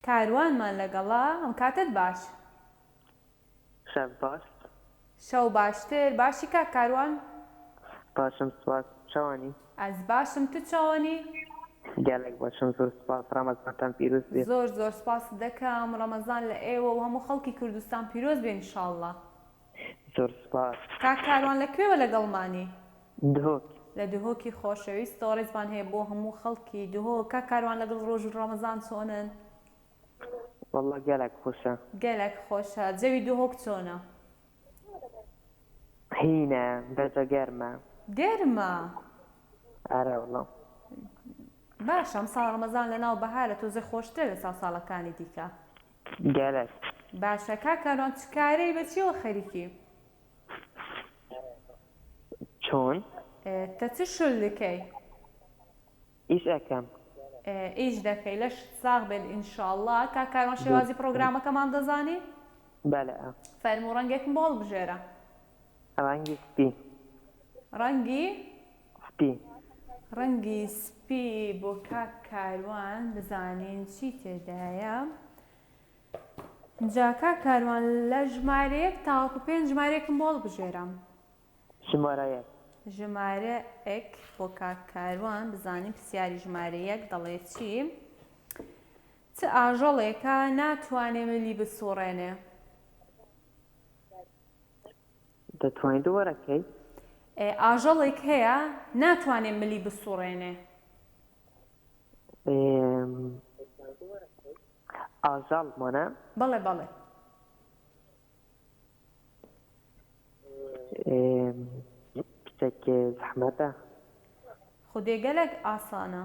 کاروانمان لەگەڵە ئەم کاتەت باش. شەو باش. شەو باشتر باشی کاک کاروان. باشم سوپاس تو چاوانی. ئەز باشم تو چاوانی. گەلەک باشم زور سوپاس رەمەزانتان پیروز بێ. زۆر زۆر سوپاست دەکەم رەمەزان لە ئێوە و هەموو خەڵکی کوردستان پیرۆز بێ انشاللە. زۆر سوپاس. کاک کاروان لە کوێوە لەگەڵمانی؟ دهۆک. لە دهۆکی خۆشەویستەوە ڕێزمان هەیە بۆ هەموو خەڵکی دهۆک. کاک کاروان لەگەڵ ڕۆژی ڕەمەزان چۆنن؟ وەڵڵا گەلەک خۆشە. گەلەک خۆشە. جەوی دهۆک چۆنە؟ هینە بەجە گەرمە. گەرمە؟ ئارا وەڵا. باشە ئەمساڵ ڕەمەزان لەناو بەهارە تۆزێ خۆشترە لەساو ساڵەکانی دیکە. گەلەک. باشە کاک ئارۆن چ کارەی بە چیەوە خەریکی. چۆن؟ تە چ شل دکەی؟ ئیش ئەکەم. ئیش دەکەی لەشت ساغ بێت ان شاءاللە. کاک ئارۆن شێوازی پڕۆگرامەکەمان دەزانی؟ بەلئ. فەرموو ڕەنگێکم بۆ هەڵبژێرە. ڕەنگی سپی. ڕەنگی؟ سپی. ڕەنگی سپی بۆ کاک کاروان بزانین چی تێدایە جا کاک کاروان لە ژمارە یەک تاوەکو پێنج ژمارەیەکم بۆ هەڵبژێرە. ژمارە یەک. ژمارە ێک بۆ کاک کاروان بزانین پرسیاری ژمارە یەک دەڵێ چی چ ئاژەڵێکە ناتوانێ ملی بسوڕێنێ؟ دەتوانی دوبارە کەی. ئاژەڵێک هەیە ناتوانێ ملی بسوڕێنێ. ئاژەڵ مۆنە؟ بەڵێ بەڵێ. شتێکی زەحمەتە. خودێ گەلەک ئاسانە.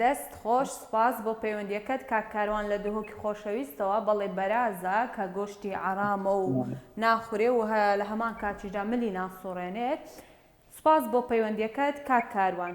دەست خۆش سوپاس بۆ پەیوەندیەکەت کاک کاروان لە دهۆکی خۆشەویستەوە بەڵی بەرازە کە گۆشتی عەرامە و ناخورێ و لە هەمان کاتیشدا ملی ناسوڕێنێت سوپاس بۆ پەیوەندیەکەت کاک کاروان.